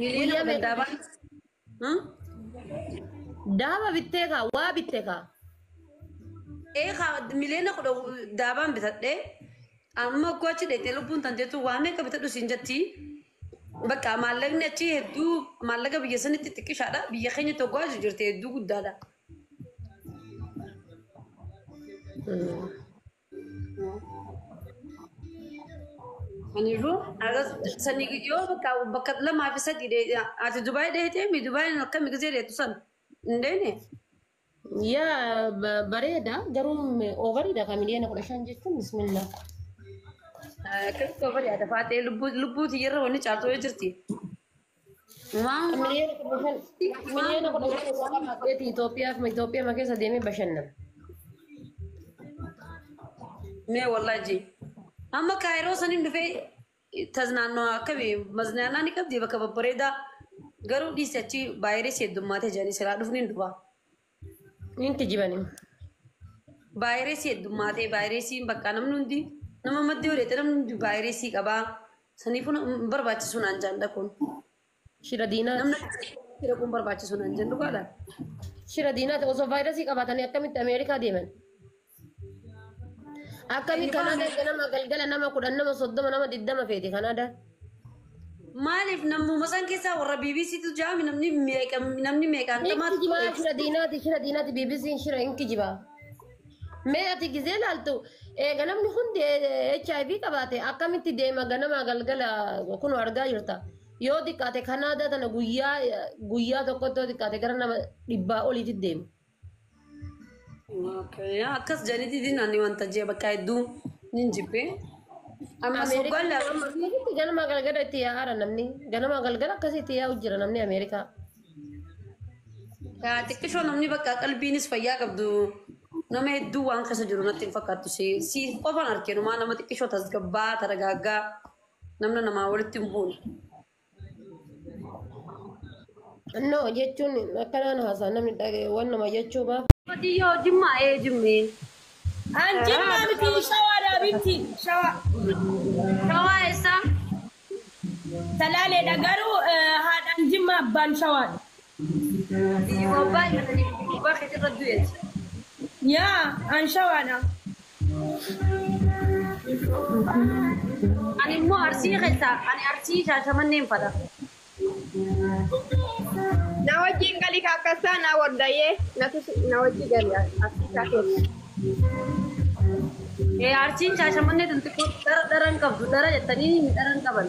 Hiriira Guyyaa meeqa? gandaabaa. Hmm? Daaba bittee kaa waa bitte kaa. Ee kaa miliyoona kudha daabaan bitadhee amma akkoo achi dheetee lubbuun tan jettu waa meeqa bitadhu siin jetti. Bakka maallaqni achi hedduu maallaqa biyya sanitti xiqqishaadha. Biyya keenya tokko achi jirti hedduu guddaadha. Kanaafuu aras sani yoo bakka bakka lamaa fi sadii dee ati Dubaay deetee mi Dubaay akkami gisee deetu san hin deene. Yaa ba- bareeda garuu oovariidha kan miliyoona kudha shan jechuun bismillah. Akkamitti yoo bari'aata faatee lubbuu lubbuu tiyyarra wanni caaltu yoo jirti. Waan waan Miliyoona kudha shan waan miliyoona kudha shan isaa waan qabaatee Itoophiyaaf Itoophiyaa keessa deemee bashannana. mee wallaaji amma kaayiroo saniin dhufee taznaannoo akkami maznaannaa ni qabdi bakka babbareedaa garuu dhiisi achi vaayirasii heddummaatee jedhanii siraa dhufni hin dhufaa. Niin kijiban hin. Vaayirasii heddummaatee vaayirasiin bakka namni hundi nama maddii odeete namni hundi vaayirasii qabaa. Saniifuu na- hin barbaachisu naan jaan dhaquun. Shira diinaati. Namni akkasii dhaquun barbaachisu naan jaan dhugaadha. Shira diinaati. Osoo vaayirasii qabaatanii akkamitti Ameerikaa deeman? Akkamiin Kanaadaa erga nama galgala nama kudhan nama soddoma nama digdama feete Kanaadaa. Maaliif namuma san keessaa warra BBC tu jaami namni meeqa namni meeqaan Hin tamaa kijibaa shira diinaati shira diinaati BBC'n shira hin kijibaa. Mee ati gizee laaltu eega namni hundi HIV qabaate akkamitti deema ganama galgala kun argaa jirta. Yoo xiqqaate Kanaadaa tana guyyaa guyyaa tokkotti yoo xiqqaate gara nama dhibbaa oliitti deema. Okay. Akkas janitii din ani wanta jee bakka hedduu nin jibbee. Amma soggaan lama. Ameerikaatti ganama galgala itti yaa'aara namni. Ganama galgala akkasii itti yaa'u jira namni Ameerikaa. Yaa xiqqishoo namni bakka qalbiinis fayyaa qabdu nama hedduu waan keessa jiru natti hin fakkaattu si si qofan arke numaa nama xiqqishoo tasgabbaa taragaaggaa namna namaa walitti hin buune. No jechuun akkanaan haasaa namni dhaga'e waan nama jechuu baaf. Qotiyyoo jimmaa ee jimmee. An jimmaa miti shawaadhaa bitti shawaa. Shawaa eessaa? Salaaleedha garuu eh, haadhaan jimmaa abbaan shawaadha. Biyyi bobbaa irra kan ibiddi gubbaa keetii irra du'eeti. Yaa an shawaadha. Ani immoo arsii keessaa ani arsii shaashamanneen fadha. Na wajjin gali ka akkassaa na wardayee natu si- na wajji gali akkassaa keessa. Ee arsiin shaashamannee tun xiqqoo dhara dhara hin qabdu dhara jettanii hin dhara hin qaban.